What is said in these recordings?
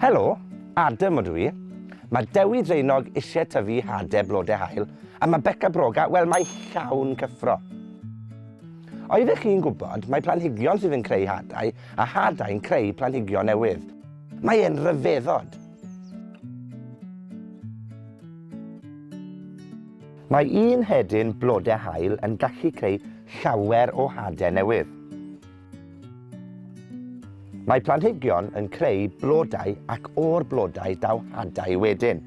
Helo, Adam o dw i. Mae Dewi Dreinog eisiau tyfu hade blodau hael, a mae Beca Broga, wel mae llawn cyffro. Oeddech chi'n gwybod, mae planhigion sydd yn creu hadau a hadau'n creu planhigion newydd. Mae e'n ryfeddod. Mae un hedyn blodau haul yn gallu creu llawer o hadau newydd. Mae planhigion yn creu blodau ac o'r blodau daw hadau wedyn.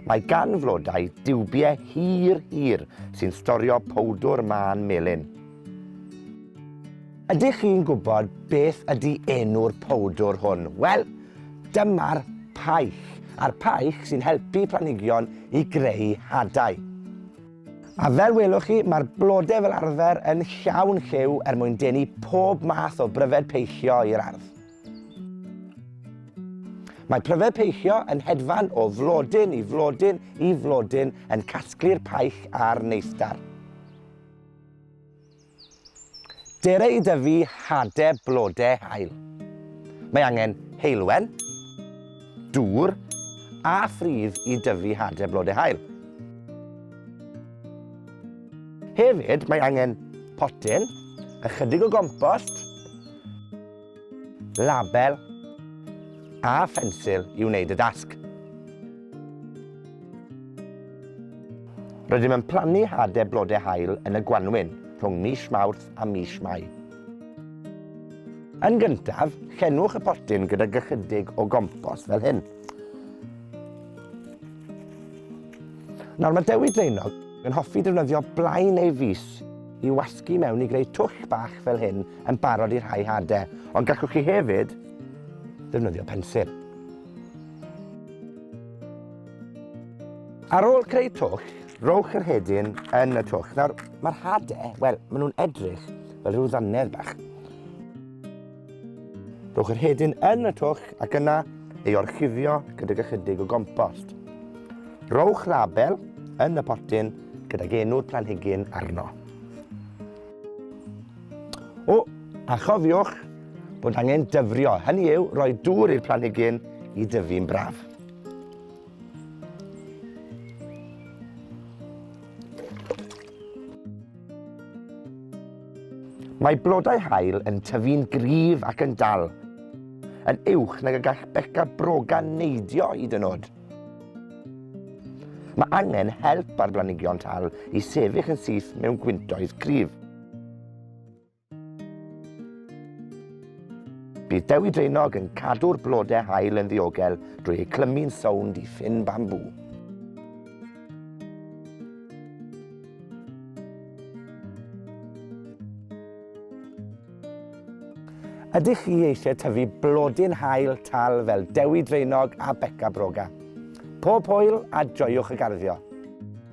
Mae gan flodau diwbiau hir hir sy'n storio powdwr mân melyn. Ydych chi'n gwybod beth ydy enw'r powdwr hwn? Wel, dyma'r paich, a'r paich sy'n helpu planhigion i greu hadau. A fel welwch chi, mae'r blodau fel arfer yn llawn lliw er mwyn denu pob math o bryfed peillio i'r ardd. Mae pryfed peillio yn hedfan o flodyn i flodyn i flodyn yn casglu'r paich a'r neithdar. Dere i dyfu hade blode haul. Mae angen heulwen, dŵr a phridd i dyfu hade blode haul. Hefyd, mae angen potyn, ychydig o gompost, label a phensil i wneud y dasg. Rydym yn plannu hade blodau haul yn y gwanwyn rhwng mis Mawrth a mis Mai. Yn gyntaf, llenwch y potyn gyda gychydig o gompos fel hyn. Nawr mae Dewi Draenog Yn hoffi defnyddio blai neu fys i wasgu mewn i greu twll bach fel hyn yn barod i rhai hade, ond gallwch chi hefyd ddefnyddio pensil. Ar ôl creu twll, rowch yr hedyn yn y twll. Nawr, mae'r hade, wel, maen nhw'n edrych fel rhyw ddannedd bach. Rhowch yr hedyn yn y twll ac yna ei orchuddio gydag ychydig o gompost. Rhowch label yn y potyn gydag enw'r planhigyn arno. O, a chofiwch bod angen dyfrio, hynny yw rhoi dŵr i'r planhigyn i dyfu'n braf. Mae blodau haul yn tyfu'n gryf ac yn dal, yn uwch nag y gall beca brogan neidio hyd yn oed. Mae angen help ar blanhigion tal i sefyll yn syth mewn gwyntoedd cryf. Bydd Dewi Draenog yn cadw'r blodau hael yn ddiogel drwy eu clymu'n sownd i ffyn bambŵ. Ydych chi eisiau tyfu blodyn hael tal fel Dewi Draenog a Beca Broga? Pob hwyl a joiwch y garddio!